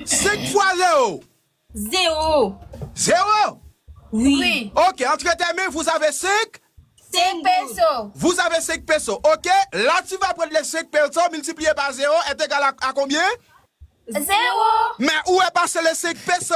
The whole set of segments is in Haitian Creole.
Senk fwa zewo. Zewo. Zewo? Wi. Ok, antre tes mains, vous avez senk? Senk peso. Vous avez senk peso. Ok, la tu vas prendre les senk peso multipliye pa zewo est egal a konbyen? Zewo. Men ou e pase les senk peso.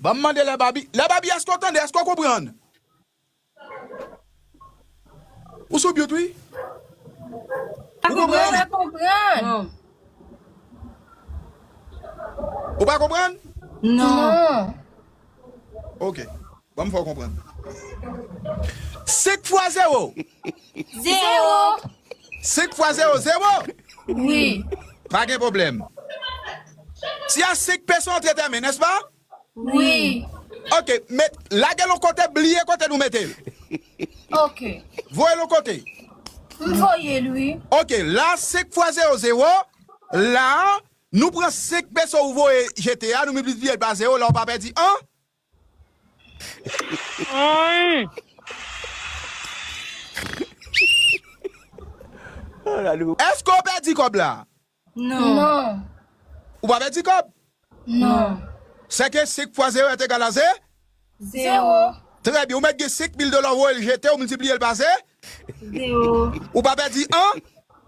Banm mande lè babi lè babi eske ou tande eske ou konprann. Ou sou mute wi. Ou konprann? Ou pa konprann? Non. Ok. Ban m fè w konprann. 5 fwa zewo. Zewo. 5 fwa zewo, zewo? Wi. Pa gen pwoblèm. Si a 5 pe son antre tèmen, nèspa? Wi. Ok, met, lage l yon kote, bliye kote nou mete l. Ok. Voye l yon kote. M voye l, wi. Ok, la 5 fwa zewo, zewo. La, nou pran 5 pe son ou voye jete a, nou milplipye l pa zewo, la ou pa pèdi an. Èske w pèdi kòb la? Non. Ou pa pèdi kòb? Non. Sèke 5 fwa zewo èt egal a ze? Zewo. Trè byen. Ou mèt gen 5 mil dola ou voye l jete, ou miltipliye l pa ze? Zewo. Ou pa pèdi an?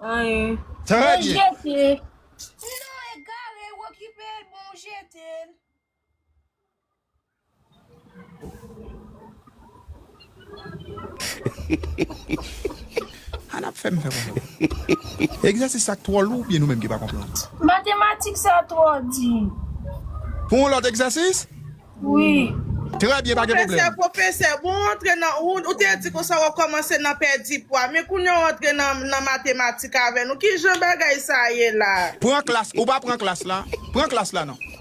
Anyen. Trè byen. Jete. Non, egare, ou okipe l, bon, jete l. Ann ap fè m fè konprann. Egzèsis sa k twò lou oubyen nou menm ki pa konprann? Matematik sa twò di. Pou yon lòt egzèsis? Wi. Trè byen, pa gen pwoblèm. Pwofesè, pwofesè, bon w antre nan, ou te di konsa w ap kòmanse nan pèdi pwa, men kounye w antre nan matematik avè nou. Ki jan bagay sa ye la? Pran klas, ou pa pran klas la? Pran klas la non.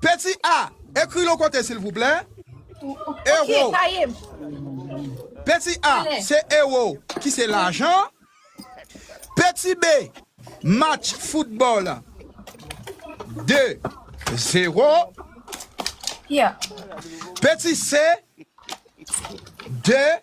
Petit A, ekri l on kote silvouplè. Ewo. Petit A, se ewo ki se lajan. Petit B, match foutbòl 2 zero. Petit C, 2.